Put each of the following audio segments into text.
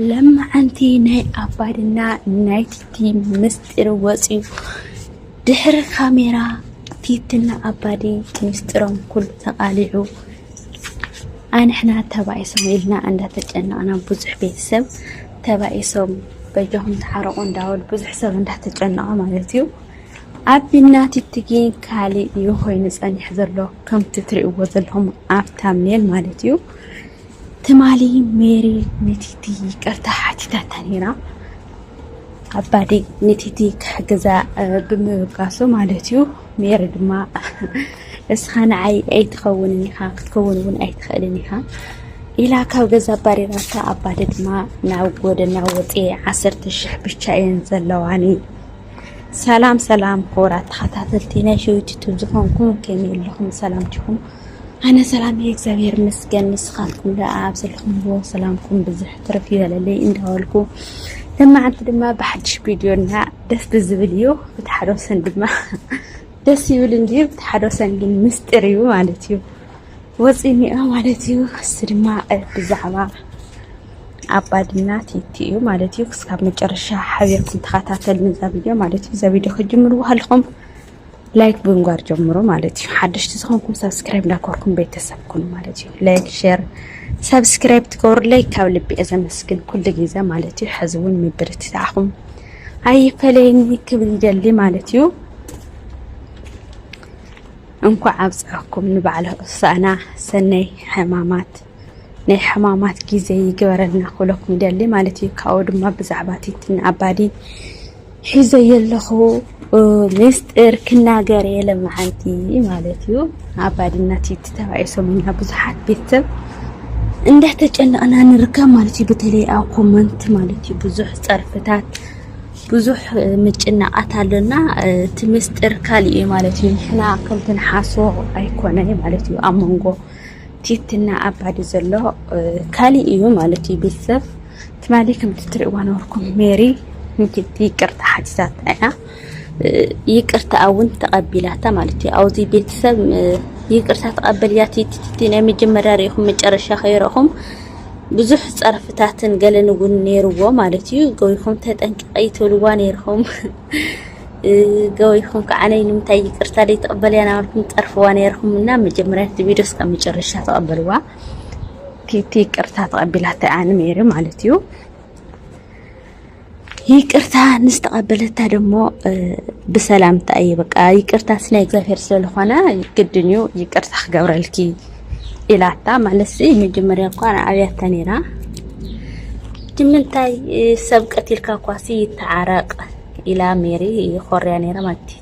ለማዓንቲ ናይ ኣባድና ናይ ቲቲ ምስጢር ወፅዩ ድሕሪ ካሜራ ቲትና ኣባዲ ምስጢሮም ኩሉ ተቃሊዑ ኣንሕና ተባኢሶም ኢልና እንዳተጨነቅና ብዙሕ ቤተሰብ ተባኢሶም በጃኹም ተሓረቁ እንዳበሉ ብዙሕ ሰብ እንዳተጨነቐ ማለት እዩ ኣቢና ቲቲ ግን ካሊእ እዩ ኮይኑ ፀኒሕ ዘሎ ከምቲ ትሪእዎ ዘለኹም ኣብ ታምኔል ማለት እዩ ትማሊ ሜሪ ንቲቲ ይቅርታ ሓቲታታ ነይራ ኣባዲ ንቲቲ ክሕግዛ ብምብጋሱ ማለት እዩ ሜሪ ድማ እስኻ ንዓይ ኣይትኸውንን ኢኻ ክትከውን እውን ኣይትኽእልን ኢኻ ኢላ ካብ ገዛ ኣባሪራታ ኣባዲ ድማ ናብ ጎደና ወፅኤ ዓሰርተ ሽሕ ብቻ እየን ዘለዋኒ ሰላም ሰላም ክቡራት ተኸታተልቲ ናይ ሸዊት ዩቱብ ዝኾንኩም ከመይ ኣለኹም ሰላምትኹም ኣነ ሰላም እየ እግዚኣብሔር ይመስገን ንስኻትኩም ደኣ ኣብ ዘለኹምዎ ሰላምኩም ብዝሕ ትርፍ ይበለለይ እንዳበልኩ ለማዓንቲ ድማ ብሓድሽ ቪድዮና ደስ ዝብል እዩ ብቲ ሓደ ወሰን ድማ ደስ ይብል እንድዩ ብቲ ሓደ ወሰን ግን ምስጢር እዩ ማለት እዩ ወፂኒኦ ማለት እዩ ክስ ድማ ብዛዕባ ኣባድና ቲቲ እዩ ማለት እዩ ክስካብ መጨረሻ ሓቢርኩም ተኸታተል ንዛ ቪድዮ ማለት እዩ እዛ ቪድዮ ክጅምርዎ ከለኹም ላይክ ብምግባር ጀምሮ ማለት እዩ። ሓደሽቲ ዝኾንኩም ሳብስክራይብ እንዳኮርኩም ቤተሰብ ኩኑ ማለት እዩ። ላይክ ሼር ሳብስክራይብ ትገብሩለይ ካብ ልቢ እየ ዘመስግን ኩሉ ግዜ ማለት እዩ። ሕዚ እውን ምብርትታዕኹም ኣይፈለየኒ ክብል ይደሊ ማለት እዩ። እንኳዕ ኣብፀሐኩም ንበዓለ ሆሳዕና ሰናይ ሕማማት ናይ ሕማማት ግዜ ይግበረልና ክብለኩም ይደሊ ማለት እዩ። ካብኡ ድማ ብዛዕባ ቲትን ኣባዲ ሒዘዮ ኣለኹ ሚስጢር ክናገር እየ ለማዓንቲ ማለት እዩ ኣባዲና ቲቲ ተባኢ ሰሙና ብዙሓት ቤተሰብ እንዳተጨነቕና ንርከብ ማለት እዩ በተለይ ኣብ ኮመንት ማለት እዩ ብዙሕ ፀርፍታት ብዙሕ ምጭናቓት ኣለና እቲ ምስጢር ካልእ እዩ ማለት እዩ ንሕና ከምቲ ንሓሶ ኣይኮነ ማለት እዩ ኣብ መንጎ ቲትና ኣባዲ ዘሎ ካልእ እዩ ማለት እዩ ቤተሰብ ትማሊ ከምቲ ትርእይዋ ነበርኩም ሜሪ ንኪድ ይቅርታ ሓቲታታ እያ ይቅርታኣ እውን ተቐቢላታ ማለት እዩ ኣብዚ ቤተሰብ ይቅርታ ተቐበልያ ቲቲቲ ናይ መጀመርያ ርኢኹም መጨረሻ ከይረኹም ብዙሕ ጸርፍታትን ገለን እውን ነይርዎ ማለት እዩ ገይኹም ተጠንቅቀይ ትብልዋ ነይርኹም ገይኹም ከዓ ነይ ንምንታይ ይቅርታ ደይ ተቕበልያ ናበልኩም ጠርፍዋ ነይርኹም እና መጀመርያ እቲ ቪድዮ እስካብ መጨረሻ ተቐበልዋ ቲቲ ይቅርታ ተቐቢላታ እያ ንሜሪ ማለት እዩ። ይቅርታ ንዝተቐበለታ ደግሞ ብሰላምታ እዩ በቃ ይቅርታ ስናይ እግዚኣብሔር ስለዝኾነ ግድን እዩ ይቅርታ ክገብረልኪ ኢላታ ማለት ሲ መጀመርያ እኳ ኣብያታ ነይራ ንምንታይ ሰብ ቀቲልካ እኳሲ ይተዓረቅ ኢላ ሜሪ ይኾርያ ነይራ ማለት እዩ።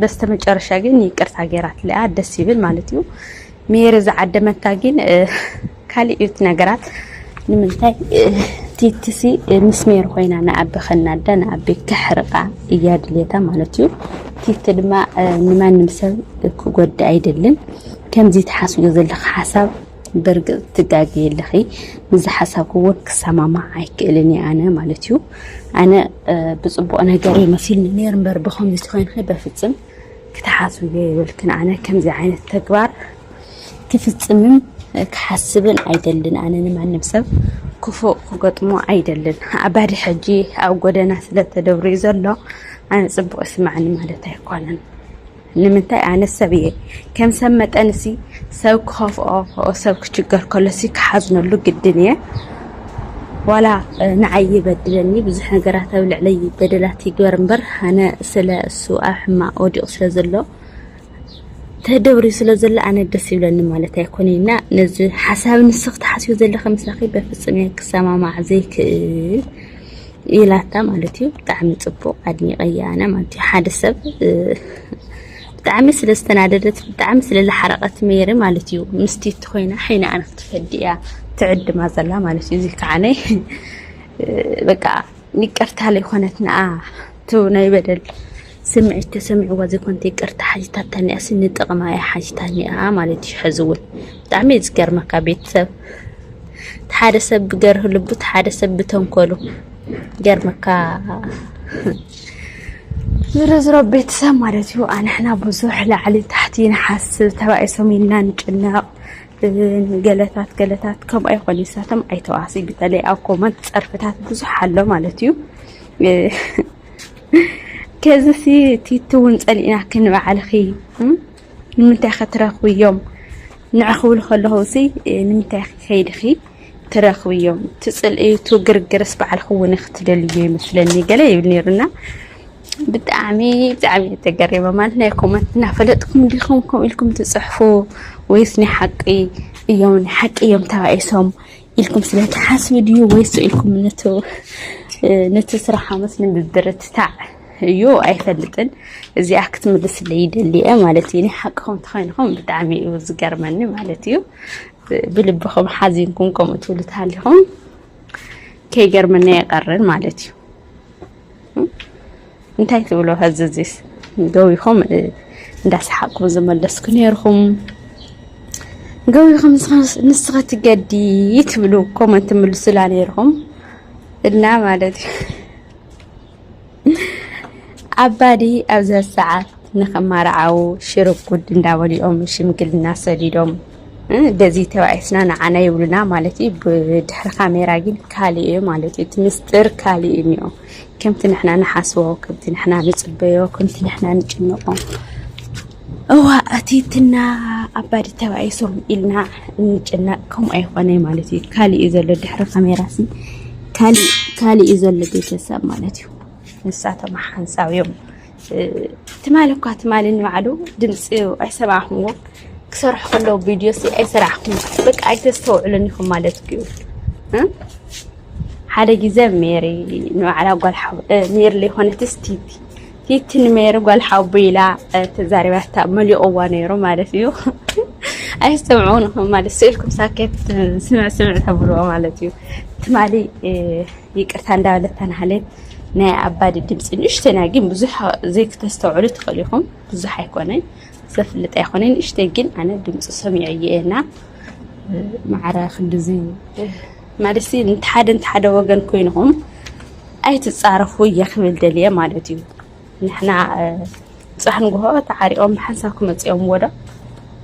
በስተመጨረሻ ግን ይቅርታ ገይራትለያ ደስ ይብል ማለት እዩ ሜሪ ዝዓደመታ ግን ካልእ እዩ ነገራት ንምንታይ ቲትሲ ምስ ሜሪ ኮይና ንኣቢ ከናዳ ንኣቢ ክሕርቃ እያ ድልየታ ማለት እዩ ቲቲ ድማ ንማንም ሰብ ክጎዳ ኣይደልን ከምዚ ተሓስቦ ዘለካ ሓሳብ ብርግጽ ትጋገይ ኣለኺ ምዚ ሓሳብኪ እውን ክሰማማዕ ኣይክእልን እየ ኣነ ማለት እዩ ኣነ ብፅቡቅ ነገር እዩ መሲልኒ ነይር እምበር ብከምዚ ኮይንኺ በፍፅም ክትሓስብዮ የብልክን ኣነ ከምዚ ዓይነት ተግባር ክፍፅምን ክሓስብን ኣይደልን ኣነ ንማንም ሰብ ክፉእ ክገጥሞ ኣይደልን ኣባዲ ሕጂ ኣብ ጎደና ስለተደብርዩ ዘሎ ኣነ ፅቡቅ ይስማዕኒ ማለት ኣይኮነን ንምንታይ ኣነ ሰብ እየ ከም ሰብ መጠን ሲ ሰብ ክኸፍኦ ኦ ሰብ ክችገር ከሎ ሲ ክሓዝነሉ ግድን እየ ዋላ ንዓይ ይበድለኒ ብዙሕ ነገራት ኣብ ልዕለይ በደላት ይግበር እምበር ኣነ ስለ እሱ ኣብ ሕማቅ ወዲቑ ስለ ዘሎ ተደብሪ ስለ ዘሎ ኣነ ደስ ይብለኒ ማለት ኣይኮነ እና ነዚ ሓሳብ ንስኽ ትሓስዮ ዘለኺ ምሳኺ በፍጹም እየ ክሰማማዕ ዘይክእል ኢላታ ማለት እዩ ብጣዕሚ ጽቡቅ ኣድኒቀያ ኣነ ማለት እዩ ሓደ ሰብ ብጣዕሚ ስለ ዝተናደደት ብጣዕሚ ስለ ዝሓረቀት ሜሪ ማለት እዩ ምስቲ እትኮይና ሓይና ኣነ ክትፈዲ እያ ትዕድማ ዘላ ማለት እዩ እዚ ከዓነ በቃ ይቅርታ ለይኮነት ንኣ እቲ ናይ በደል ስምዒት ተሰሚዕዋ ዘይኮነት ይቅርታ ሓቲታታ እኒኣሲ ንጥቕማ እያ ሓቲታ እኒኣ ማለት እዩ። ሕዚ እውን ብጣዕሚ እዩ ዝገርመካ ቤተሰብ ሓደ ሰብ ብገርህ ልቡ ሓደ ሰብ ብተንኮሉ ገርመካ ዝረዝሮ ቤተሰብ ማለት እዩ። ኣንሕና ብዙሕ ላዕሊ ታሕቲ ንሓስብ ተባኢሶም ኢልና ንጭነቕ ገለታት ገለታት ከምኡ ኣይኮነ ይሳቶም ኣይተዋሲ በተለይ ኣብ ኮመንት ፀርፍታት ብዙሕ ኣሎ ማለት እዩ። ከዝሲ ቲቲ እውን ጸሊእናኪ ንባዕልኺ ንምንታይ ከ ትረኽብዮም ንዕ ክብሉ ከለኹ እዚ ንምንታይ ከይድኺ ትረኽብዮም ትጽልእቱ ግርግርስ ባዕልኺ እውን ክትደልዩ ይመስለኒ ገለ ይብል ነይሩና ብጣዕሚ ብጣዕሚ ተገሪመ ማለት ናይ ኮመንት እናፈለጥኩም ዲኹም ከምኡ ኢልኩም ትጽሕፉ ወይስ ናይ ሓቂ እዮም ናይ ሓቂ እዮም ተባኢሶም ኢልኩም ስለ ትሓስቡ ድዩ ወይስ ኢልኩም ነቲ ስራሕ ኣመት ንምብርትታዕ እዩ ኣይፈልጥን። እዚኣ ክትምልስለይ ይደሊ እየ ማለት እዩ። ሓቅኹም ተኮይንኹም ብጣዕሚ እዩ ዝገርመኒ ማለት እዩ። ብልብኹም ሓዚንኩም ከምኡ ትብሉ ተሃሊኹም ከይገርመኒ ኣይቀርን ማለት እዩ። እንታይ ትብሎ ኸዚ እዚስ ገዊኹም እንዳሰሓቅኩ ዝመለስኩ ነይርኹም ገዊኹም ንስኸ ትገዲ ትብሉ ኮመንት ምልሱላ ነይርኹም እና ማለት እዩ ኣባዲ ኣብዛ ሰዓት ንክማርዓዉ ሽርብ ጉድ እንዳበሉ እዮም ሽምግልና ሰዲዶም በዚ ተባኢስና ንዓና ይብሉና ማለት እዩ ብድሕሪ ካሜራ ግን ካልእ እዩ ማለት እዩ እቲ ምስጢር ካልእ እዩ እኒኦ ከምቲ ንሕና ንሓስቦ ከምቲ ንሕና ንፅበዮ ከምቲ ንሕና ንጭንቆ እዋ እቲ እትና ኣባዲ ተባኢሶም ኢልና እንጭነቅ ከምኡ ኣይኮነ ማለት እዩ ካልእ እዩ ዘሎ ድሕሪ ካሜራ ሲ ካልእ እዩ ዘሎ ቤተሰብ ማለት እዩ ንሳቶም ሓንሳብ እዮም ትማሊ እኳ ትማሊ ንባዕሉ ድምፂ ኣይሰማዕኹምዎ ክሰርሑ ከለዉ ቪድዮ ሲ ኣይሰራሕኩም በቃ ኣይተስተውዕሉን ኢኹም ማለት እዩ ሓደ ግዜ ሜሪ ንባዕላ ጓል ሜሪ ዘይኮነትስ ቲቲ ቲቲ ንሜሪ ጓል ሓቡ ኢላ ተዛሪባታ መሊቕዋ ነይሩ ማለት እዩ ኣይሰምዑን ኢኹም ማለት ስእልኩም ሳኬት ስምዕ ስምዕ ተብልዎ ማለት እዩ ትማሊ ይቅርታ እንዳበለት ተናህሌ ናይ ኣባዲ ድምፂ ንእሽተይ ናይ ግን ብዙሕ ዘይክተስተውዕሉ ትኽእሉ ኢኹም ብዙሕ ኣይኮነን ዘፍልጥ ኣይኮነን ንእሽተይ ግን ኣነ ድምፂ ሰሚዐ እየና ማዕረ ክንዲዚ ማለት ንሓደ ንሓደ ወገን ኮይንኹም ኣይትፃረፉ እየ ክብል ደልየ ማለት እዩ ንሕና ብፃሕ ንግሆ ተዓሪቆም ብሓንሳብ ክመፁ እዮም ወዶ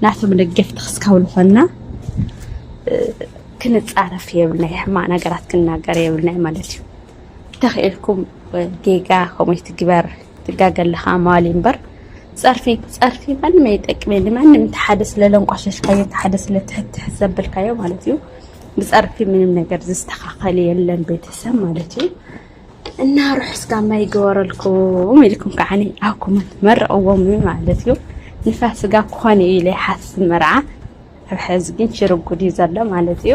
ናቶም ደገፍቲ ክስካብ ዝኾንና ክንፃረፍ የብልና ሕማቅ ነገራት ክናገር የብልና ማለት እዩ ተኽኢልኩም ጌጋ ከምኡ ትግበር ትጋገ ኣለኻ መዋሊ እምበር ፀርፊ ፀርፊ ማንም ኣይጠቅመ ንማንም እቲ ሓደ ስለለንቋሸሽካዮ እቲ ሓደ ስለትሕትሕ ዘብልካዮ ማለት እዩ ብፀርፊ ምንም ነገር ዝስተኻኸል የለን ቤተሰብ ማለት እዩ እና ርሑስ ጋማ ይገበረልኩም ኢልኩም ከዓኒ ኣብ ኮመንት መርቕዎም ማለት እዩ ንፋስ ስጋ ክኾን እዩ ኢለ ይሓስብ መርዓ ሕዚ ግን ሽርጉድ እዩ ዘሎ ማለት እዩ